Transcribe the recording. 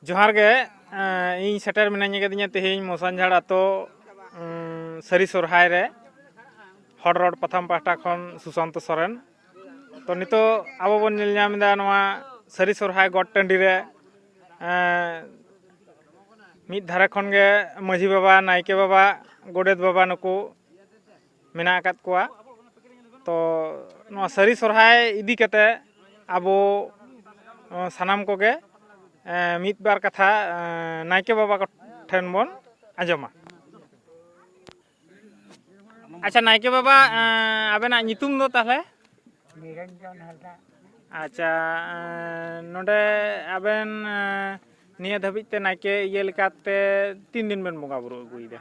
ᱡᱚᱦᱟᱨ ᱜᱮ ᱤᱧ ᱥᱮᱴᱮᱨ ᱢᱤᱱᱟᱹᱧ ᱟᱠᱟᱫᱤᱧᱟ ᱛᱮᱦᱮᱧ ᱢᱚᱥᱟᱱᱡᱷᱟᱲ ᱟᱛᱳ ᱥᱟᱹᱨᱤ ᱥᱚᱨᱦᱟᱭ ᱨᱮ ᱦᱚᱲ ᱨᱚᱲ ᱯᱟᱛᱷᱟᱢ ᱯᱟᱦᱴᱟ ᱠᱷᱚᱱ ᱥᱩᱥᱟᱱᱛᱚ ᱥᱚᱨᱮᱱ ᱛᱚ ᱱᱤᱛᱚᱜ ᱟᱵᱚ ᱵᱚᱱ ᱧᱮᱞ ᱧᱟᱢ ᱮᱫᱟ ᱱᱚᱣᱟ ᱥᱟᱹᱨᱤ ᱥᱚᱨᱦᱟᱭ ᱜᱚᱴ ᱴᱟᱺᱰᱤ ᱨᱮ ᱢᱤᱫ ᱫᱷᱟᱨᱮ ᱠᱷᱚᱱ ᱜᱮ ᱢᱟᱺᱡᱷᱤ ᱵᱟᱵᱟ ᱱᱟᱭᱠᱮ ᱵᱟᱵᱟ ᱜᱚᱰᱮᱛ ᱵᱟᱵᱟ ᱱᱩᱠᱩ ᱢᱮᱱᱟᱜ ᱟᱠᱟᱫ ᱠᱚᱣᱟ ᱛᱚ ᱱᱚᱣᱟ ᱥᱟᱹᱨᱤ ᱥᱚᱨᱦᱟᱭ ᱤᱫᱤ ᱠᱟᱛᱮ ᱟᱵᱚ ᱥᱟᱱᱟᱢ ᱠᱚᱜᱮ ᱢᱤᱫ ᱵᱟᱨ ᱠᱟᱛᱷᱟ ᱱᱟᱭᱠᱮ ᱵᱟᱵᱟ ᱴᱷᱮᱱ ᱵᱚᱱ ᱟᱸᱡᱚᱢᱟ ᱟᱪᱪᱷᱟ ᱱᱟᱭᱠᱮ ᱵᱟᱵᱟ ᱟᱵᱮᱱᱟᱜ ᱧᱩᱛᱩᱢ ᱫᱚ ᱛᱟᱦᱚᱞᱮ ᱱᱤᱨᱚᱧᱡᱚᱱ ᱦᱟᱸᱥᱫᱟ ᱟᱪᱪᱷᱟ ᱱᱚᱰᱮ ᱟᱵᱮᱱ ᱱᱤᱭᱟᱹ ᱫᱷᱟᱹᱵᱤᱡ ᱛᱮ ᱱᱟᱭᱠᱮ ᱤᱭᱟᱹ ᱞᱮᱠᱟᱛᱮ ᱛᱤᱱ ᱫᱤᱱ ᱵᱮᱱ ᱵᱚᱸᱜᱟ ᱵᱩᱨᱩ ᱟᱹᱜᱩᱭᱮᱫᱟ